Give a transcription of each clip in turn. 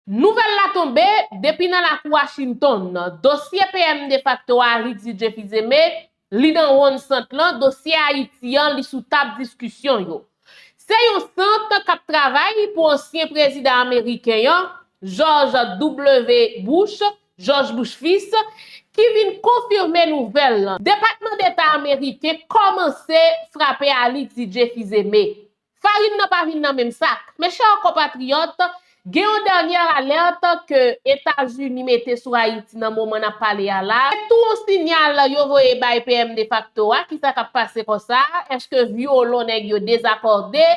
Nouvèl la tonbe, depi nan lakou Washington, dosye PM defakto a Ritvidje Fils-Aimé, li nan wonn sant lan, dosye Ayiti an, li sou tab diskisyon yo. Se yon sant k ap travay pou ansyen prezidan ameriken an, George W. Bush, Jòj Bouch Fis, ki vin konfime nouvèl lan. Depatman Deta ameriken kòmanse frape a Ritvidje Fils-Aimé. Farin nan pa vin nan menm sak. Mes chers compatriotes, gen yon dernière alerte ke Etazini mete sou Ayiti nan moman nap pale a la, se tou yon signal yo voye bay PM defakto a, kisa kap pase konsa, eske violon nèg yo dezakòde,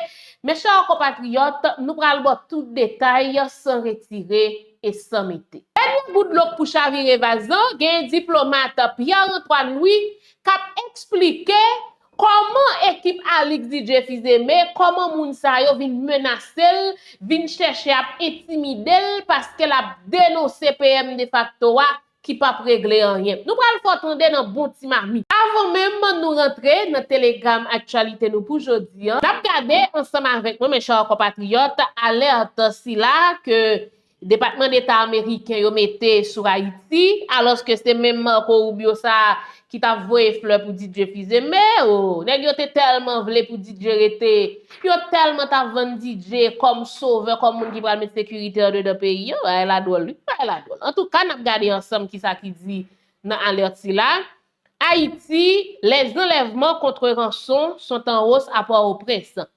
mes chers compatriotes, nou pral baw tout detay san retire e san mete. Dènye gout dlo k pou chavire vaz lan, gen diplomat Pierre Antoine Louis kap eksplike Kòman ekip Alix DJ Fils-Aimé, kòman moun sa yo vin menase l, vin chèche ap entimide l paske l ap denonse PM defakto a ki p ap regle anyen? Nou pral fè w tande nan bon ti mamit. Avan menm nou rantre nan telegram aktyalite nou pou jodi an, n ap gade ansanm avèk mwen, mè chè konpatriyòt, alèt sila ke Depatman Deta Ameriken yo mete sou Ayiti, alòske se menm Marco Rubio sa a ki t ap voye flè pou Didier Fils-Aimé, oo, nèg yo te tèlman vle pou Didier rete, yo tèlman t ap vann Didier kòm sovè, kòm moun ki pral met sekirite andedan peyi an, bagay la dwòl wi, bagay la dwòl. Antouka, n ap gade ansanm kisa ki di nan alert sila, Haïti, les enlèvements contre rançon sont en hausse à Port-au-Prince.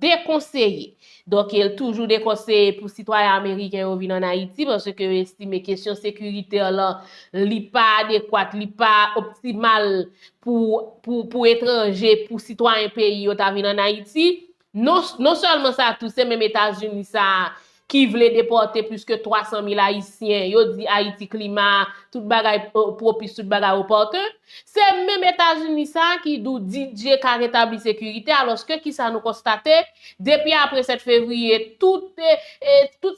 dekonseye. Donk el toujou dekonseye pou sitwayen ameriken yo vin an Ayiti paske yo estime kesyon sekirite lan li pa adekwat, li pa optimal pou etranje, pou sitwayen peyi yo ta vin an Ayiti. Non sèlman sa tou se menm Etazini sa a ki vle depòte plis ke 300 mil Ayisyen, yo di Ayiti klima a, tout bagay pwopis, tout bagay opòtè. Se menm Etazini sa a ki dou Didier ka retabli sekirite a, alòske ki sa nou konstate, depi apre 7 fevriye, tout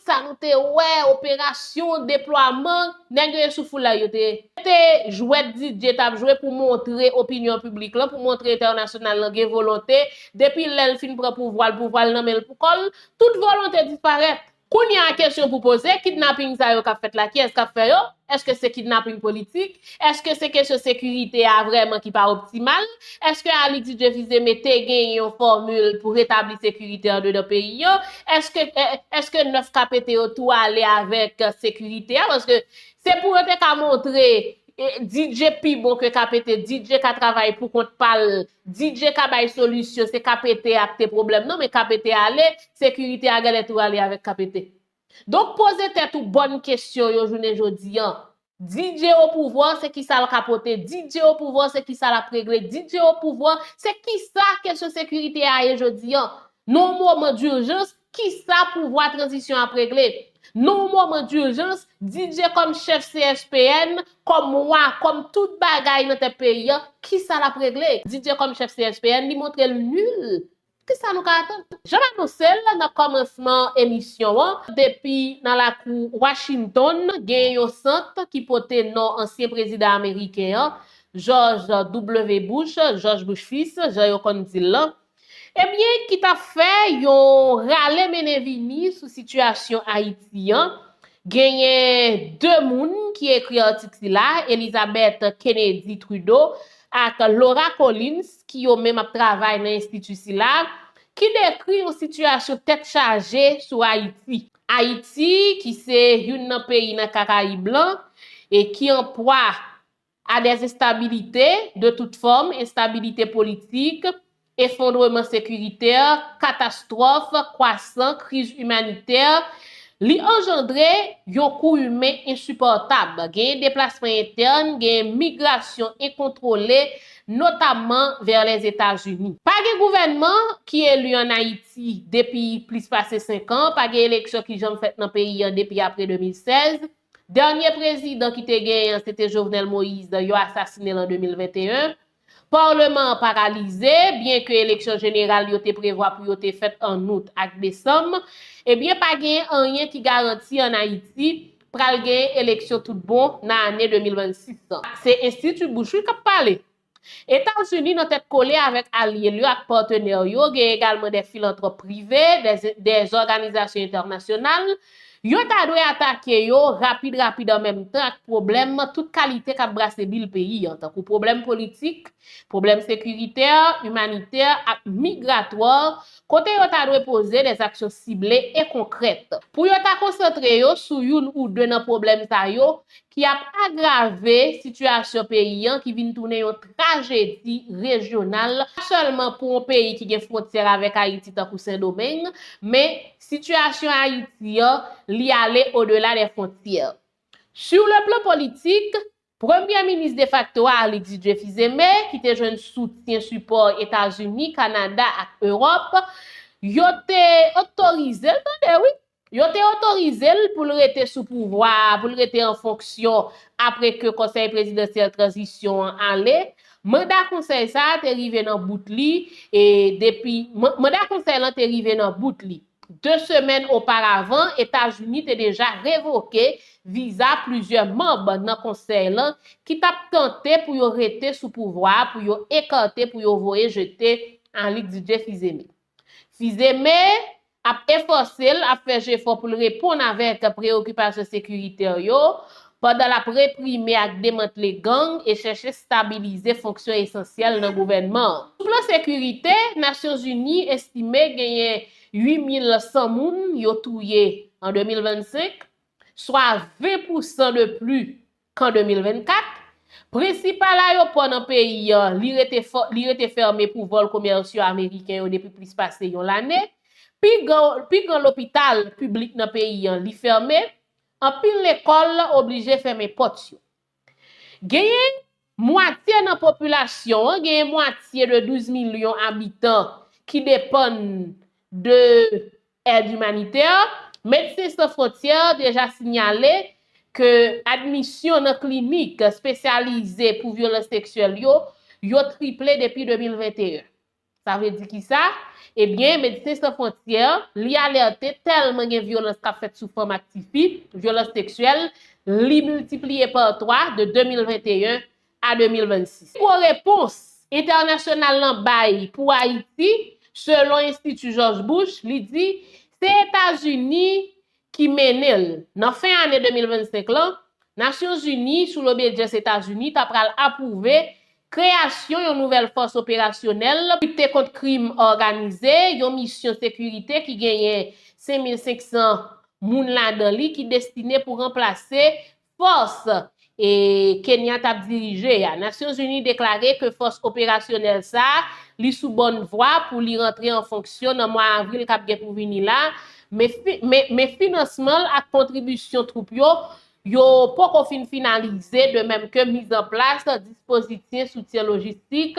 sa nou te wè, operasyon, deplwaman, nèg yo ye sou foulay yo te. Se te jwèt Didier t ap jwe pou montre opinyon piblik lan, pou montre entènasyonal lan gen volonte, depi lè l fin pran pouvwa l, pouvwa l nan men l pou kò l, Tout volonte disparèt. Kounya kesyon pou poze, kidnaping sa yo kap fèt la kiyès kap fè yo? Eske se kidnaping politik? Eske se kesyon sekirite a vrèman ki pa optimal? Eske Ali Didieu Fils-Aimé te genyen yon fòmil pou retabli sekirite andedan peyi an? Eske eske 9 ka pete yo tou ale avèk sekirite a? Paske se pou yo te ka montre E DJ pi bon ke KPT, DJ ka travay pou kont pa l, DJ ka bay solisyon, se KPT a ki te pwoblèm nan, men KPT ale, sekirite a gèlè tou ale avèk KPT. Donk poze tèt ou bòn kesyon yo jounen jodi an. DJ opouvwa se kisa l ka pote, DJ opouvwa se kisa l ap regle, DJ opouvwa se kisa kesyon sekirite a ye jodi an. Nan yon moman durjans, Kisa pouvwa tranzisyon ap regle? Nan yon moman durjans, Didier kòm chèf CSPN, kòm wa, kòm tout bagay nan tèt peyi an, kisa lap regle? Didier kòm chèf CSPN, li montre l nul. Kisa nou ka atann? Jan m anonse l nan kòmansman emisyon an, depi nan lakou Washington, gen yon sant ki pote non ansyen prezidan ameriken an, George W. Bush, Jòj Bush Fils, jan yo konn di l lan, Ebyen ki ta fè yon rale mennen vini sou sitiyasyon Ayiti an, genyen 2 moun ki ekri atik sila, Elizabeth Kennedy Trudeau ak Laura Collins ki yo menm ap travay nan enstiti sila, ki dekri yon sitiyasyon tèt chaje sou Ayiti. Ayiti ki se youn nan peyi nan Karayib lan e ki an pwa a des instabilités de toutes formes, instabilite politik, efondreman sekiritè, katastwòf, kwasan, kriz imanitè, li anjandre yon kou imen ensipòtab, genyen deplasman entèn, genyen migrasyon enkontwole, notamman vè Lèzetazini. Pa gen gouvènman ki eli an Ayiti depi plis pase 5 an, pa gen eleksyon ki janm fèt nan peyi an depi apre 2016, Dènye prezidan ki te genyen an se te Jovenel Moïse, yo asasine l an 2021. Parleman an paralize, byen ke eleksyon jeneral yo te prevwa pou yo te fèt an Out ak Desanm. Ebyen pa genyen anyen ki garanti an Ayiti pral genyen eleksyon tout bon nan ane 2026 lan. Se Institut Bush wi k ap pale. Etazini nan tèt kole avèk alye l yo ak patenè l yo, gen egalman de filantròp prive, de zòganizasyon entènasyonal, yo ta dwe atake yo rapid rapid an menm tan ak pwoblèm tout kalite k ap brase bil peyi an, tankou pwoblèm politik, pwoblèm sekiritè, imanitè ak migratwà, kote yo ta dwe poze de aksyon sible e konkrèt. Pou yo ta konsantre yo sou youn ou de nan pwoblèm sa yo, ki ap agrave sitiyasyon peyi an ki vin tounen yon trajedi rejyonal, pa sèlman pou yon peyi ki gen fwontyè avèk Ayiti tankou Sendomeng, men sitiyasyon Ayiti an, li ale odela dè fwontyè. Sur le plan politik, Premyè Minis defakto a Arlix Didier Fils-Aimé, ki te jwenn soutyen sipò Etazini, Kanada ak Ewòp, yo te otorize l tande wi, Yo te otorize l pou l rete sou pouvwa a, pou l rete an fonksyon apre ke Konsèy Prezidansyèl Tranzisyon an ale. Manda konsèy sa a te rive nan bout li e depi manda konsèy lan te rive nan bout li. De semèn oparavan, Etazini te deja revoke viza plizyè manb nan konsèy lan ki t ap tante pou yo rete sou pouvwa a, pou yo ekate, pou yo voye jete Anlick Didier Fils-Aimé. Fils-Aimé, ap efòse l, ap fè jefò pou l reponn avèk preyokipasyon sekiritè yo, pandan l ap reprime ak demantle gang e chèche stabilize fonksyon esansyèl nan gouvènman an. Sou plan sekirite, Nasyonzini estime genyen 8,100 moun yo touye an 2025, swa 20 pousan de pli Kan 2024, Prensipal ayopò nan peyi an, li rete fèmen pou vòl komèsyò ameriken yo depi plis pase yon lane, pi gran lopital piblik nan peyi an, li fèmen, anpil lekòl oblije fèmen pòt yo. Genyen mwatye nan popilasyon an, genyen mwatye de 12 milyon abitan ki depann de Èd imanitè, Medsen San Fwontyè deja sinyale ke admisyon nan klinik spesyalize pou vyolans seksyèl yo, yo triple depi 2021. Sa vle di kisa? Ebyen, Medsen San Fwontyè, li alète tèlman gen vyolans kap fèt sou fanm ak tifi, vyolans seksyèl, li miltipliye pa 3 de 2021 a 2026. Pi gwo repons entènasyonal lan bay pou Ayiti, selon Enstiti Jòj Bush, li di, se Etazini ki mennen l. Nan fen ane 2025 lan, Nasyon Zini, sou lobedyans Etazini, ta pral apwouve kreyasyon yon nouvèl fòs operasyonèl pou lite kont krim òganize, yon misyon sekirite ki genyen 5,500 moun ladan li ki destine pou ranplase Fòs E Kenya tap dirije a. Nasyon Zini deklare ke fòs operasyonèl sa li sou bòn vwa pou li rantre an fonksyon nan mwa avril kap gen pou vini la, men finansman l ak kontribisyon twoup yo yo poko fin finalize de menm ke mizanplas dispozityen soutyen lojistik